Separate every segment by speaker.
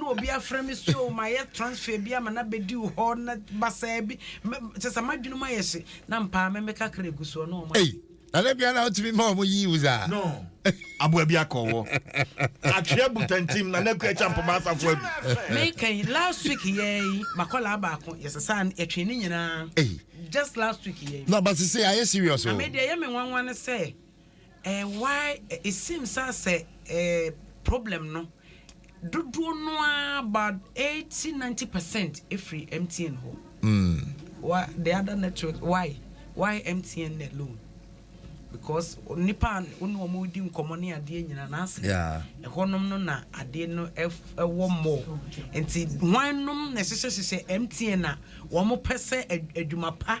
Speaker 1: na obi afrɛ me so o mayɛ transfer bi ama no abɛdi wo hɔ na basaa bi kyɛ sɛ m'adwene mu ayɛ hye na mpaa me meka kra gu soɔ na ɔma na da bia na
Speaker 2: wotumi ma ɔmo yi wo saa no
Speaker 3: aboa bi akɔ wɔ atweɛ butantim na na akua kya mpoma asafo adu meka yi
Speaker 1: last week yɛɛ yi makɔlaa baako yɛsesa yɛtwee ne nyinaa just
Speaker 2: last week
Speaker 1: yɛɛ na basese ayɛ serious
Speaker 2: o na medeɛ yɛ me nwanwa
Speaker 1: ne sɛ Eh why it seems sɛ asɛ eh problem no dodoɔ no ara about eighty ninety percent ɛfiri MTN hɔ wa the other network why why MTN alone because nipa a wo ne wɔn redi nkɔmmɔ ne adeɛ nyina na asɛ Yeah. ɛhɔnom no na adeɛ no ɛf- ɛwɔ more nti hwan nom na ɛhyehyɛ hyehyɛ MTN a wɔn pɛ sɛ ad- adwuma pa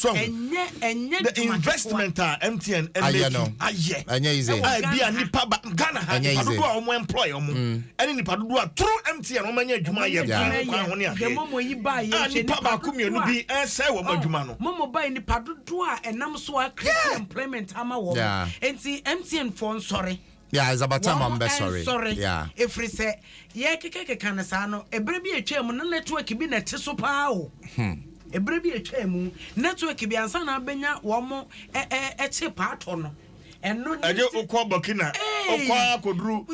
Speaker 2: So ahu
Speaker 3: the investment a MTN ayɛ
Speaker 2: no ayɛ a ebi a nipa
Speaker 3: ba Ghana ha nipa dodo a wɔn employ wɔn mm. ɛne nipa dodo a through MTN wɔn anya adwuma ayɛ ɛmu kwan ho ne adeɛ a
Speaker 1: nipa baako mmienu bi
Speaker 3: ɛsɛ wɔn oh, adwuma no. Mɔmɔ ba yɛ nipa dodo
Speaker 1: a ɛnam so a create employment ama wɔn nti MTN fɔ nsɔre. Yeah, it's about time
Speaker 2: I'm best sorry. Sorry. Yeah. If it's a
Speaker 1: yeah, keke keke na saa no. Ebre bi etwa mu na network bi na te so paa o. Hmm. Ebre bi etwa mu network bi ansa na abenya wɔn mo ɛ ɛ ɛkye paatɔ no. Ɛno ne. Ɛnyɛ okɔ Burkina.
Speaker 3: Okɔ akoduru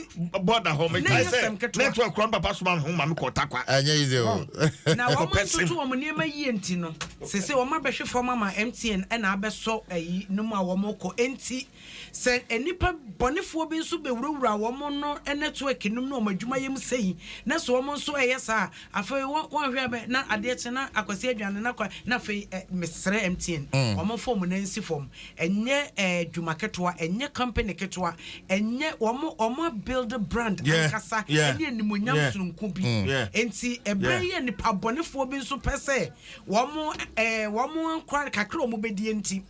Speaker 3: bɔda hɔ mi taa sɛ network kura papa suma ho maame kɔ takwa. Ɛnyɛ yi de o. Na wɔn
Speaker 2: ntoto
Speaker 1: wɔn nneɛma yie nti no sese wɔn abɛhwe fam ama MTN ɛna abɛsɔ ɛyi no mu a wɔn kɔ nti. Sɛ nnipa bɔnefoɔ bi nso bɛwurawura wɔn no nɛtoɛk nom ne wɔn adwumayɛ mu sei, na sɛ wɔn nso reyɛ saa a, afei wɔ, wɔnhwɛ a bɛ, na adeɛ kye na Akwasi adwane na kɔ, na afei ɛ, mesrɛ MTN, wɔmfa wɔn nan nsi fam. Ɛnyɛ ɛ, adwuma ketewa, ɛnyɛ company ketewa, ɛnyɛ, wɔn, wɔn abuild brand Yeah, ankasa yeah, ne animuonyam yeah, sononko bi. mm, yeah, Enti ɛberɛ yeah. yi a nnipa bɔnefoɔ bi nso pɛ sɛ wɔn ɛ, wɔn nkwa kakra a wɔbɛdie nti,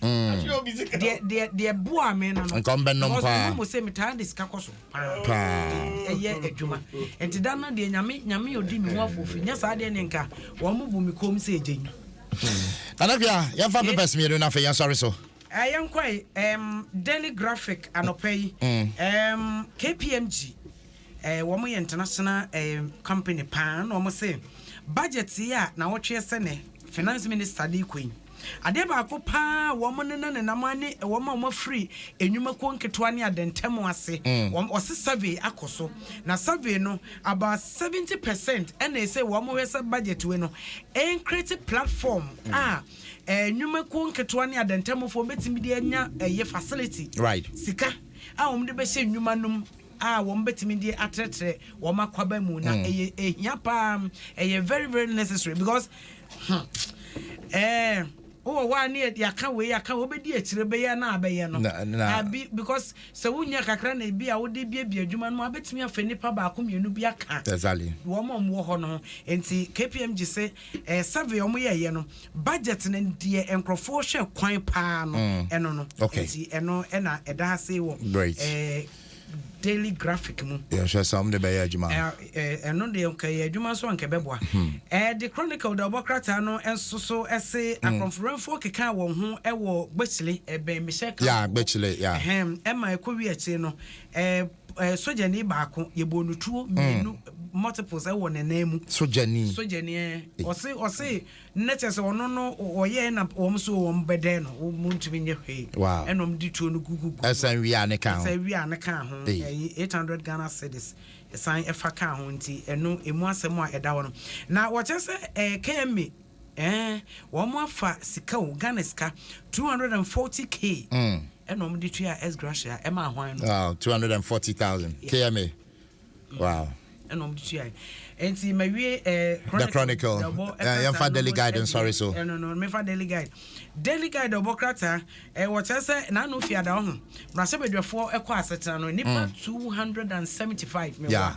Speaker 1: deɛ boa me no no nkɔmbɛnom mo
Speaker 2: se metaa de sika kɔ
Speaker 1: so paa ɛyɛ adwuma nti da no deɛ nyame nyame odi me ho afofi nyɛ saa deɛ ne nka wɔn mo bu me kom sɛ ɛgye nyi nanakua
Speaker 2: yɛmfa eh. papers mmienu no afei yɛnsɔre so eh, yɛnkɔe
Speaker 1: um, daily graphic anɔpa yi um, kpmg Eh wɔn yɛ international eh company paa na wɔn se budget yi a na wɔtwe ɛsɛ nɛ finance minister de kɔ yi adeɛ baako paa wɔn ne na nenam ane wɔn a wɔn afiri enyuma kuo nketewa ne adɛntɛm ase wɔn wɔse survey akɔ so na survey no about seventy percent ɛna ɛsɛ wɔn hwɛ sɛ budget wei no ɛn create platform a eh enyuma kuo nketewa ne adɛntɛm foɔ betumi de anya ɛyɛ facility right sika
Speaker 2: a
Speaker 1: wɔn de bɛhyɛ enyuma nom. a wɔn bɛtumi de atrɛtrɛ wɔn akwaba mu na hmm. ɛyɛ ehia paa ɛyɛ very very necessary because hmm, eh, wowɔ hɔ a ne yɛaka wei yɛaka wobɛdi akyire bɛyɛ na abɛyɛ no abi because sɛ wonya kakra na ebi a wode biabia adwuma no mu abɛtumi afɛ nnipa baako mmienu bi aka wɔn a wɔwɔ
Speaker 2: hɔ no
Speaker 1: ho nti kpm gye sɛ eh, survey wɔn yɛɛyɛ no Budget no deɛ nkorɔfoɔ hwɛ kwan paa no ɛno no nti ɛno ɛna ɛda ase wɔ daily graphic mu. Yɛhwɛ sɛ wɔn de bɛyɛ
Speaker 2: adwuma. Ɛno deɛ
Speaker 1: nka yɛ adwuma nso anka ɛbɛboa. The Chronicle da ɔbɔ krataa no nso so ɛse akorɔmforɔmfoɔ keka wɔn ho ɛwɔ Gbɛkyile ɛbɛn Mehyɛ Camp hɔ. Yeah Gbɛkyile yeah.
Speaker 2: Ɛma
Speaker 1: ɛkɔ wi akyire no. ɛɛ sogyani baako yɛbɔɔ no tuo mm. mmienu multiples ɛwɔ ne nan mu. sogyani sogyani
Speaker 2: ɛɛ eh. ɔse
Speaker 1: ɔse ne kyɛ sɛ ɔno no ɔyɛ na wɔn so wɔn bɛdɛ no wɔn ntumi nyɛ hwee ɛna wɔn de tuo no gugugu. ɛsan wia ne kan ho
Speaker 2: ɛsan wia ne kan ho
Speaker 1: eh. ɛyi eight hundred Ghana cedis ɛsan ɛfa kan ho nti ɛno emu asɛm a ɛda hɔ no na wɔkyɛ sɛ ɛɛ kɛmi. Eeh wɔn afa sika o Ghana sika 240 K ɛna wɔn de tua S Gracia ɛma ahwan no. Wow 240,000
Speaker 2: KMA. Wow. ɛna wɔn de tua
Speaker 1: yi. Nti ma wie ɛɛ. Eh, the
Speaker 2: Chronicle. Eh, yɛn fa Daily Guide nsɔre so. Ɛno eh, no me fa Daily Guide.
Speaker 1: Daily Guide ɔbɔ krataa ɛɛ eh, wɔkyerɛ sɛ n'ano fi ada ɔho. Mmarahyɛbadwafoɔ ɛkɔ asetena no nipa 275 mɛ wa.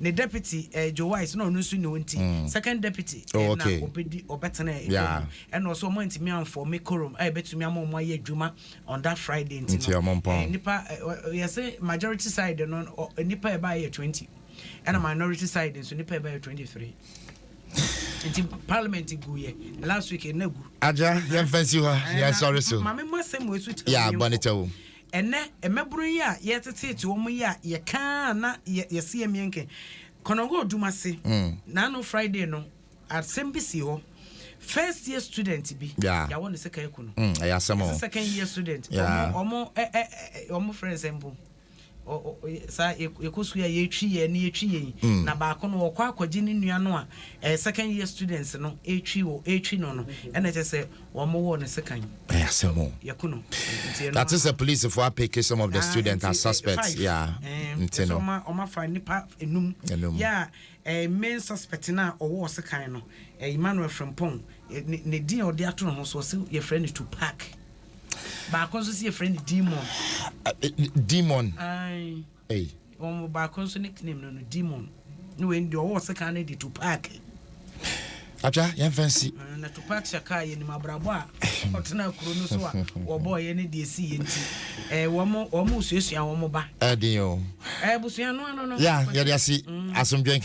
Speaker 1: ne deputy eh, Joe Wise na ɔno nso ni o nti mm. second deputy oh, eh, okay. na ɔbɛdi ɔbɛtena ɛkɔ yeah. mu ɛna ɔsɛ ɔmo ntumi anfɔ me korom a ɛbɛtumi ama ɔmo ayɛ adwuma on that Friday nti no eh, nipa eh, yɛsɛ majority side no nipa ɛbaa yɛ twenty ɛna minority side nso nipa ɛbaa yɛ twenty three nti parliament gu yɛ last week ɛna gu. aja yɛn fɛn si
Speaker 2: hɔ yɛn sɔre so. maame mu asɛm wo esu tɛ o.
Speaker 1: yɛ abɔ ne tɛ o.
Speaker 2: Ɛnnɛ,
Speaker 1: mmabunu yi a yɛreteteete wɔn yi a yɛka a na yɛse yɛmmeɛ nkɛ. Konongo Dumase, naano Friday no, asɛm bi sii hɔ. First year student bi, yɛawɔ no second aku no. Mm, ɛyɛ asɛm o. Ɛsɛ second
Speaker 2: year student,
Speaker 1: wɔn, wɔn, ɛ, ɛ, ɛ, wɔn frɛ nsɛm po. saa yɛkɔ sukuu a yɛtwi yɛn ne yɛtwi yɛn mm. na baako no ɔkɔ akɔgye ne nua no a ɛyɛ second year students no ɛtwi wɔ ɛtwi no no ɛna kyɛ sɛ Wɔwɔ no sekan. Ɛyɛ asɛm o. Yɛko
Speaker 2: no. Nti ɛno.
Speaker 1: Nate sɛ
Speaker 2: polisifo apeke some of the students as suspects yeah nti no.
Speaker 1: Ɛsɛ ɔma fa nipa enum. Enum. Yeah ɛɛ main suspect no a ɔwɔ ɔsekan no ɛɛ Emmanuel Frimpong ne din a ɔde ato ne ho so ɔse yɛfrɛ no Tupac. Baako nso se yɛfrɛ no Demon. Demon. Aye. ei. Wɔn mu baako nso nick name no no demon ne wei no deɛ ɔwɔ sekan no de tupaki.
Speaker 2: Atwa yɛn fɛn si. Na tupak shaka
Speaker 1: yɛnim abrabɔ a ɔtena kuro no so a wɔbɔɔ yɛ ne deɛ esi yɛ nti ɛɛ wɔn wɔn
Speaker 2: suasua wɔn ba. Ɛdin o. Ɛɛ busua
Speaker 1: no ano no.
Speaker 2: Ya yɛde
Speaker 1: asi asomdwe nka.